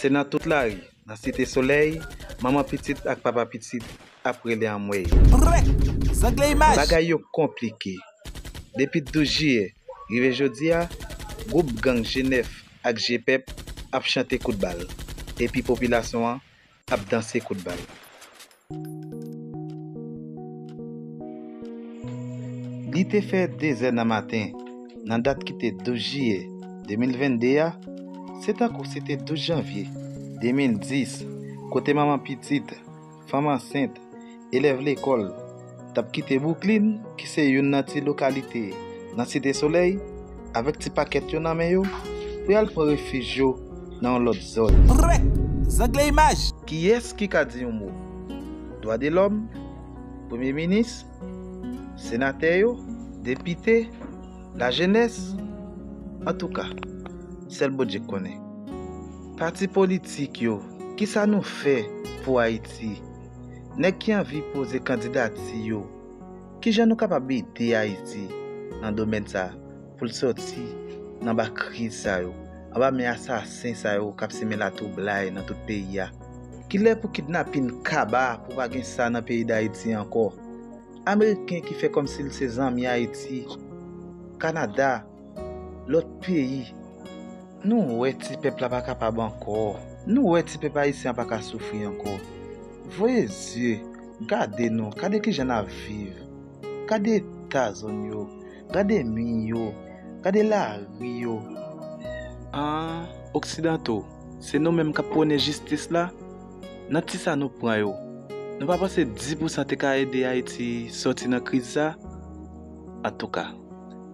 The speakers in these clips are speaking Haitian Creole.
Se nan tout lari, nan site solèy, manman pitit ak papa pitit ap rele anmwey. Prrek! Zangle imaj! Bagay yo konplike. Depi 12 jiyè rive jodi a, gwoup gang G9 ak G-Pep ap chante kout bal, epi popilasyon an ap danse kout bal. Li te fè dezè nan maten, nan dat ki te 12 jiyè 2022 a, se tankou se te 12 janvye 2010, kote manman pitit, fanm ansent, Elèv lekòl t ap kite Bwouklin ki se youn nan ti lokalite nan Site Solèy avèk ti pakèt yo nan men yo pou y al pran refij yo nan yon lòt zòn. Prèt! Zangle imaj! Kiyès ki ka di yon mo? Dwadelòm? Premye minis? Senatè yo? Depite? Lajenès? Antouka, sèl Bondye k konnen. Pati politik yo, kisa nou fè pou Ayiti? Nèg ki anvi poze kandidati yo, kijan nou kapab ede Ayiti nan domèn sa pou l sòti nan anba kriz sa yo, anba men asasen sa yo k ap simen latwoublay nan tout peyi a? Kilè pou kidnapin kaba pou pa gen sa nan peyi Dayiti ankò? Ameriken ki fè kòmsi l se zanmi Ayiti, Kanada, Lòt peyi, nou wè ti pèp la pa kapab ankò, nou wè ti pèp ayisyen an pa ka soufri ankò. Voye zye, gade nou, gade kijan n ap viv, gade eta zòn yo, gade mi yo, gade lari yo. An, oksidanto, se nou menm k ap pwone jistis la? Nan ti sa nou pran yo, nou pa panse di pousan te ka ede Ayiti sòti nan kriz sa? Antouka.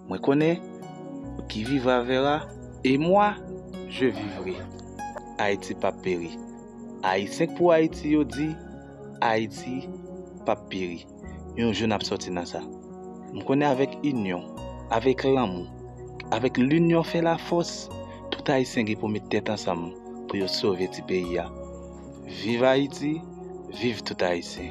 Mwen konnen ou ki vivra vera. Et moi, je vivrai. Ayiti pap peri. Ayisyen k pou Ayiti yo di Ayiti pap peri. Yon jou nap sòti nan sa. M konnen avèk inyon, avèk lanmou, avèk linyon fè lafòs, tout Ayisyen gen pou met tèt ansanm pou yo sove ti peyi a. Viv Ayiti, viv tout Ayisyen.